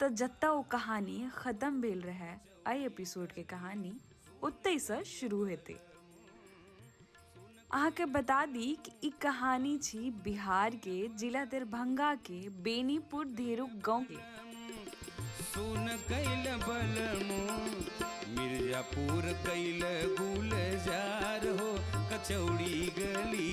तऽ जतऽ ओ कहानी खतम भेल रहै एहि एपिसोडके कहानी ओतहिसँ शुरू हेतै अहाँके बता दी कि ई कहानी छी बिहारके जिला दरभंगाके बेनीपुर धेरुक गाँवके सुन कैल बलमो मिर्जापुर कैल गुलजार हो कचौड़ी गली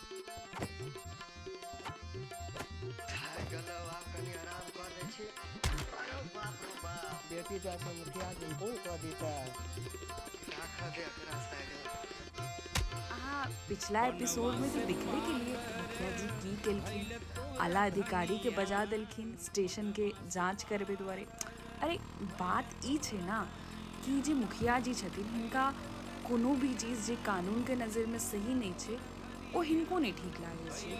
चलो आप कनी आराम कर दै छी अरे बाप रे बाप बेटी जा के मुखिया जी फोन कर दीता राख दे एकरा साइड अहाँ पिछला एपिसोड में तो देखबे के लिए मुखिया जी की केलखिन आला अधिकारी के बजा देलखिन स्टेशन के जांच करबे दुआरे अरे बात ई छै ना कि जे मुखिया जी छथिन हिनका कोनो भी चीज जे कानून के नजर में सही नहीं छै ओ हिनको नहि ठीक लागै छै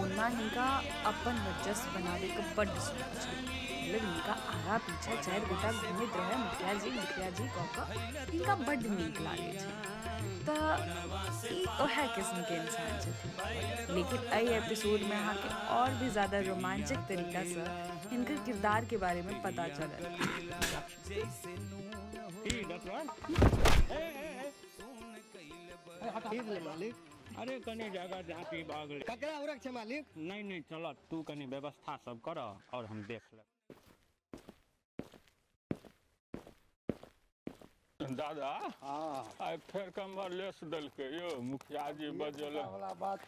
ओना हिनका अपन वर्चस्व बनाबैके बड्ड शौक छै मतलब हिनका आगा पीछा चारि गोटा घूमैत रहै मुखिया जी मुखिया जी कऽ कऽ हिनका बड्ड नीक लागै छै तऽ ई ओएह किस्मके इंसान छथिन लेकिन एहि एपिसोडमे अहाँके आओर भी ज्यादा रोमांचक तरीकासँ हिनकर किरदारके बारेमे पता चलत खीर ले मालिक अरे कनी जगह झाँकी भऽ गेलै ककरा उरक छै मालिक नहि नहि चलऽ तू कनी व्यवस्था सब करऽ आओर हम देख लेब दादा आइ फेर कमर लेस देलकै यौ मुखिया जी बजल वाला बात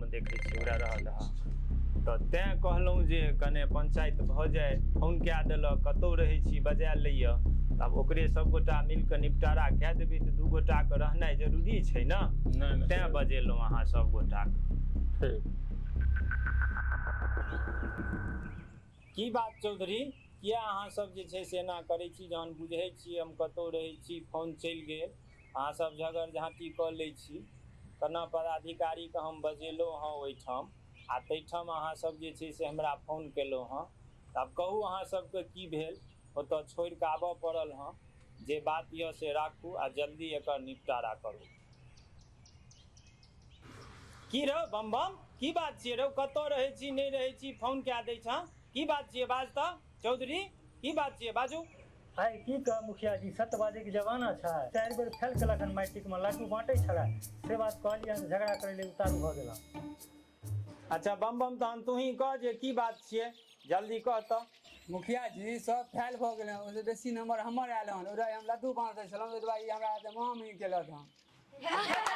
हम देखै छी उड़ा रहल ह तऽ तैं कहलहुँ जे कने पंचायत भऽ जाय फोन कए देलक कतहु रहै छी बजा लैया आब ओकरे सभगोटा मिल कऽ निपटारा कए देबै तऽ दू गोटाके रहनाइ जरूरी छै ने नहि नहि तैं सही बजेलहुँ अहाँ सभगोटा ठीक की बात चौधरी किए अहाँसभ जे छै से एना करै छी जहन बुझै छी हम कतहु रहै छी फोन चलि गेल अहाँ सब झगड़ झाँटी कऽ लै छी तेना पदाधिकारीके हम बजेलहुँ हँ ओहिठाम आ ताहिठाम अहाँ सब जे छै से हमरा फोन केलहुँ हँ तऽ आब कहू अहाँ सबके की भेल ओतऽ छोड़ि कऽ आबऽ पड़ल हँ जे बात यऽ से राखू आ जल्दी एकर निपटारा करू की रौ बम बम की बात छियै रौ कतऽ रहै छी नहि रहै छी फोन कए दै छँ की बात छियै बाज तऽ चौधरी की बात छियै बाजू आइ की कहब मुखिया जी सत्य बाजैके जमाना छै चारि बेर फेल केलक हन मैट्रिकमे लड्डू बाँटै छलै से बात कहलियै हन झगड़ा करै लेल उतारू भऽ गेला अच्छा बम बम तहन तूही कह जे की बात छियै जल्दी कह तऽ मुखिया जी सब फैल भऽ गेल हन ओहिसँ बेसी नम्बर हमर आयल हन ओहि दुआरे हम लड्डू बाँटै छलहुँ ओहि दुआरे ई हमरा हाथे महामही केलक हन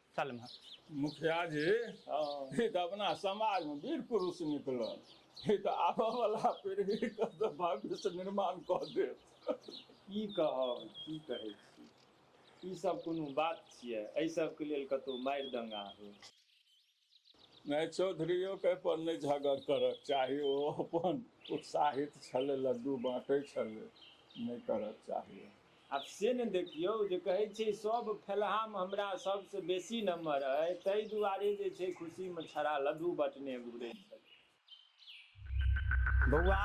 सालमे मुखिया जी ई तऽ अपना समाजमे वीर पुरुष निकलल ई तऽ आबऽ वाला पीढ़ीके तऽ भविष्य निर्माण कऽ देत की कहब की कहै छी ई सब कोनो बात छियै एहि सबके लेल कतौ मारि दंगा हो नहि चौधरीओ के पर नहि झगड़ करक चाही ओ अपन उत्साहित छलै लड्डू बाँटै छलै नहि करक चाही आब से ने देखियौ जे कहै छै सभ फेलहामे हमरा सभसँ बेसी नम्बर अइ ताहि दुआरे जे छै खुशीमे छड़ा लड्डू बँटने घुरै छथि बौआ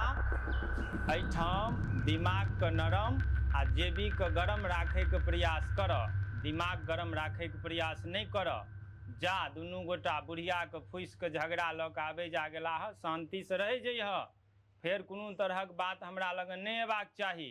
एहिठाम दिमागके नरम आ जेबीके गरम राखैके प्रयास करऽ दिमाग गरम राखैके प्रयास नहि करऽ जा दुनू गोटा बुढ़ियाके फुसिके झगड़ा लऽ कऽ आबै जा गेलाह शान्तिसँ रहै जइहऽ फेर कोनो तरहक बात हमरा लगन नहि अयबाक चाही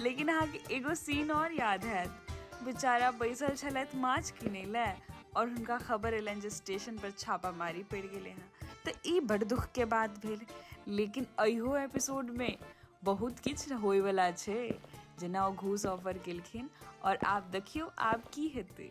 लेकिन अहाँके एगो सीन और याद हैत बेचारा बैसल छलथि माछ किनै लए और हुनका खबर एलनि जे स्टेशन पर छापामारी पड़ि गेलै हँ तऽ ई बड़ दुख के बात भेल लेकिन अहियो एपिसोड में बहुत किछु होय वाला छै जेना ओ घूस ऑफर केलखिन और आब देखियौ आब की हेतै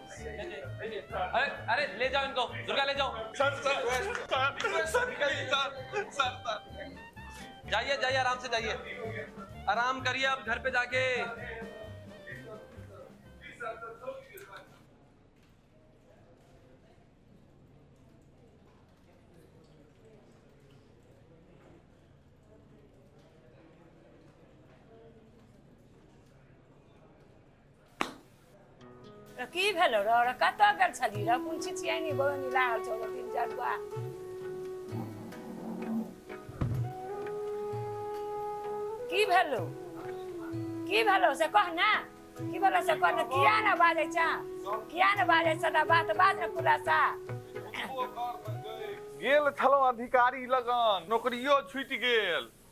अरे अरे ले जाओ इनको दुर्गा ले जाओ sir sir sir sir sir जाइए जाइए आराम से जाइए आराम करिए आप घर पे जाके र की भेलो र र कत गेल छली र कोन छिछियानी बहनी लागल छौ र तीन चार बा की भेलो की भेलो से कह ना की भेलो से कह ना किया ना बाजे छा किया ना बाजे सदा बात बाज ना खुलासा गेल छलहुँ अधिकारी लगन नौकरियो छुटि गेल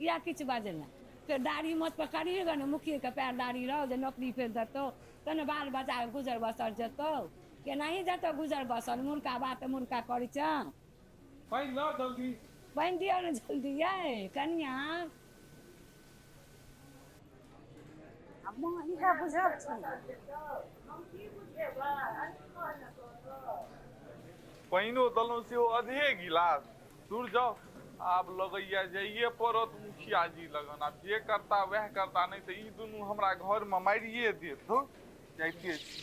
किया किछु बाजल नहि फेर दाढ़ी मोछ पर करिहे ग ने मुखिये के पैर दाढ़ी रहो जे नौकरी फेर देतो तऽ ने बाल बच्चा के गुजर बसर जेतो केनाही जेतो गुजर बसर मुर्खा बात तऽ मुर्खा करै छ पानि लाउ जल्दी पानि दियौ ने जल्दी यै कनिया आ मुँह हिनका बुझक छनि पानिओ देलहुँ सेहो अधे गिलास धुर जाउ आब लगैया जाइए पड़त मुखिया जी लगन आब जे करता वएह करता नहि तऽ ई दुनू हमरा घर मे मारिये देत धुर जाइते छी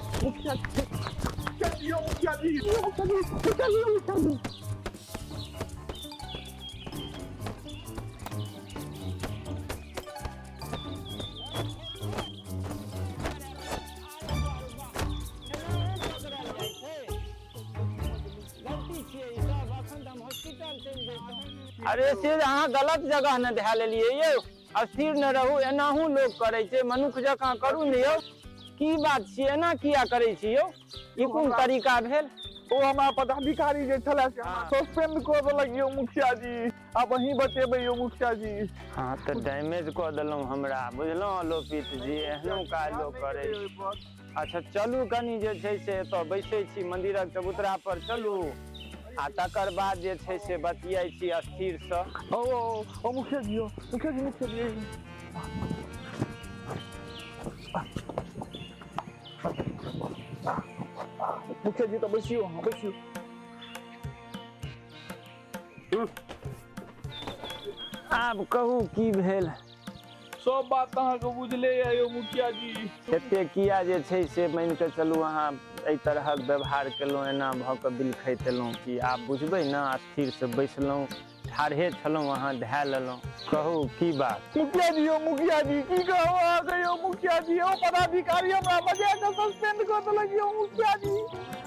अरे से अहाँ गलत जगह ने धए लेलियै यौ अस्थिर न रहू एनाहू लोग करै छै मनुख जकाँ करू ने यौ की बात छियै एना किया करै छी यौ ई कोन तरीका भेल ओ हमरा पदाधिकारी जे छले से हमरा सस्पेंड कऽ देलक यौ मुखिया जी आब अहीं बचेबै यौ मुखिया जी हाँ तऽ डैमेज कऽ देलहुँ हमरा बुझलहुँ लोपित जी एहनो काज लोक करै छै अच्छा चलू कनि जे छै से एतऽ बैसै छी मन्दिरक चबूतरा पर चलू आ तकर बाद जे छै से बतियाइ छी स्थिरसँ ओ ओ ओ मुखिया जी ओ मुखिया जी मुखिया जी मुखिया जी तऽ बैसियो अहाँ बैसियो आब कहू की भेल सब बात तऽ अहाँके बुझले यऽ यौ मुखिया जी एते किया जे छै से मानि कऽ चलू अहाँ एहि तरहक व्यवहार केलहुँ एना भऽ कऽ बिलखैत एलहुँ कि आब बुझबै ने स्थिरसँ बैसलहुँ ठाढ़े छलहुँ अहाँ धए लेलहुँ कहू की बात मुखिया जी यौ मुखिया जी की कहू अहाँके यौ मुखिया जी यौ पदाधिकारी हमरा बजा कऽ सस्पेंड कऽ देलक यौ मुखिया जी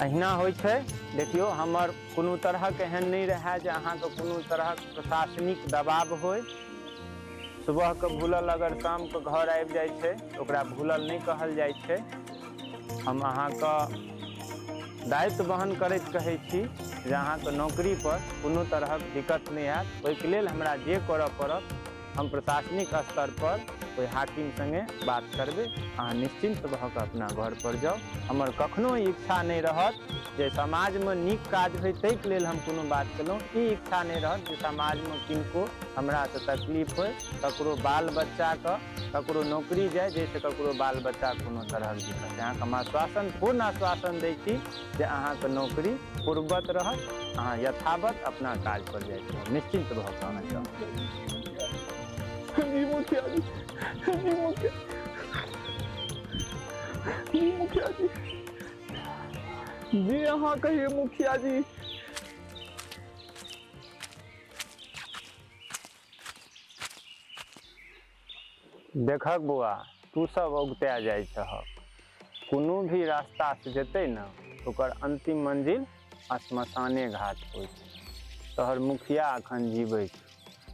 अहिना होइ छै देखियौ हमर कोनो तरहक एहन नहि रहए जे अहाँके कोनो तरहक प्रशासनिक दबाव होय सुबहके भूलल अगर शामके घर आबि जाइ छै तऽ ओकरा भूलल नहि कहल जाइ छै हम अहाँके दायित्व वहन करैत कहै छी जे अहाँके नौकरीपर कोनो तरहक दिक्कत नहि आयत ओहिके लेल हमरा जे करय पड़त हम प्रशासनिक स्तर पर ओहि हाकिम संगे बात करबै अहाँ निश्चिन्त भऽ कऽ अपना घर पर जाउ हमर कखनो इच्छा नहि रहत जे समाजमे नीक काज होय ताहिके लेल हम कोनो बात केलहुँ ई इच्छा नहि रहत जे समाजमे किनको हमरासँ तकलीफ होय ककरो बाल बच्चाके ककरो नौकरी जाय जाहिसँ ककरो बाल बच्चाके कोनो तरहक दिक्कत अहाँके हम आश्वासन पूर्ण आश्वासन दै छी से अहाँके नौकरी पूर्ववत रहत अहाँ यथावत अपना काज पर जाइ छी निश्चिन्त भऽ कऽ अहाँ जाउ जी मुखिया जी जी मुखिया जी मुखिया जी जी अहाँ कहिए मुखिया जी देखक बौआ तू सब औगता जाइ छहक कोनो भी रास्ता से जेतै ने ओकर अंतिम मंजिल श्मशाने घाट होइ छै तोहर मुखिया अखन जीबै छै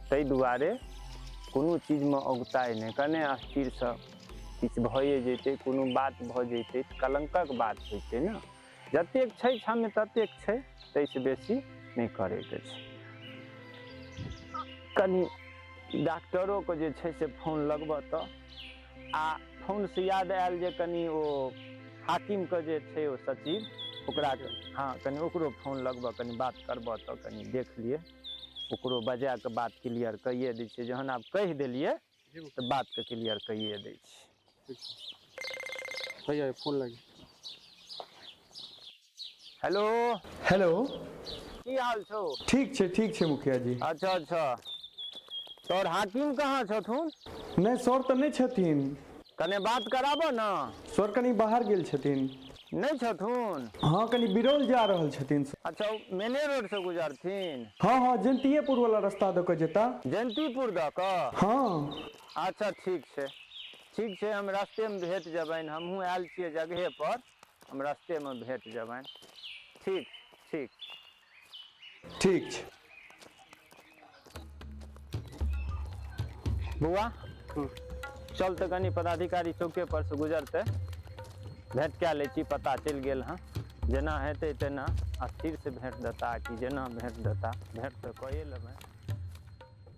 ताहि दुआरे कोनो चीजमे औगताइ नहि कने अस्थिरसँ किछु भए जेतै कोनो बात भऽ जेतै तऽ कलङ्कक बात होइ छै ने जतेक छै क्षम्य ततेक छै ताहिसँ बेसी नहि करैके छै कनि डॉक्टरोके जे छै से फोन लगबऽ तऽ आ फोनसँ याद आयल जे कनि ओ हाकिमके जे छै ओ सचिव ओकरा हँ कनि ओकरो फोन लगबऽ कनि बात करबऽ तऽ कनि देख लिए ओकरो बजाए कऽ बात क्लियर कैए दै छियै जहन आब कहि देलियै तऽ बातके क्लियर कैए दै छी भैया फोन लाग हेलो हेलो की हाल छौ ठीक छै ठीक छै मुखिया जी अच्छा अच्छा तोर हाकिम कहाँ छथुन नहि सर तऽ नहि छथिन कने बात कराबऽ ने सर कनि बाहर गेल छथिन नै छथुन? हँ, कनी बिरौल जा रहल छथिन स। अच्छा, ओ मेने रोड सँ गुजरथिन? हँ, हँ, जयन्तिएपुर वला रस्ता दऽ कऽ जेता। जयन्तिपुर दऽ कऽ? हँ। अच्छा, ठीक छै। ठीक छै, हम रस्ते मे भेट जेबनि। हमहूँ आयल छियै जगहे पर। हम रस्ते मे भेट जेबनि। ठीक, ठीक। ठीक छै बौआ चल तऽ कनि पदाधिकारी चौके पर से गुजरते भेंट कए लै छी पता चलि गेल हँ जेना हेतै तेना आ फिर से भेंट देता कि जेना भेंट देता भेंट तऽ कए लेबै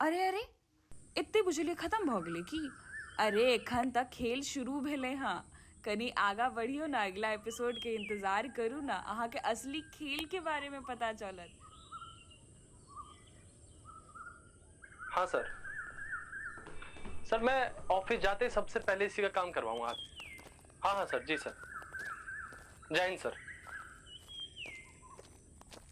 अरे अरे एते बुझलिए खतम भऽ गेलै की अरे एखन तऽ खेल शुरू भेलै हँ कनि आगाँ बढ़ियौ ने अगिला एपिसोडके इन्तजार करू ने अहाँके असली खेलके बारेमे पता चलत हाँ सर सर मैं ऑफिस जाते ही सबसे पहले इसी का काम करवाऊंगा आज हाँ हाँ सर जी सर जय हिंद सर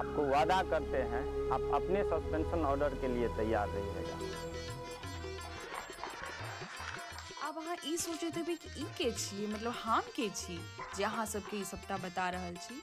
आपको वादा करते हैं आप अपने सस्पेंशन ऑर्डर के लिए तैयार रहिएगा अब अहाँ ई सोचैत हेबै कि ई के छी मतलब हम के छी जे अहाँ सबके ई सभटा बता रहल छी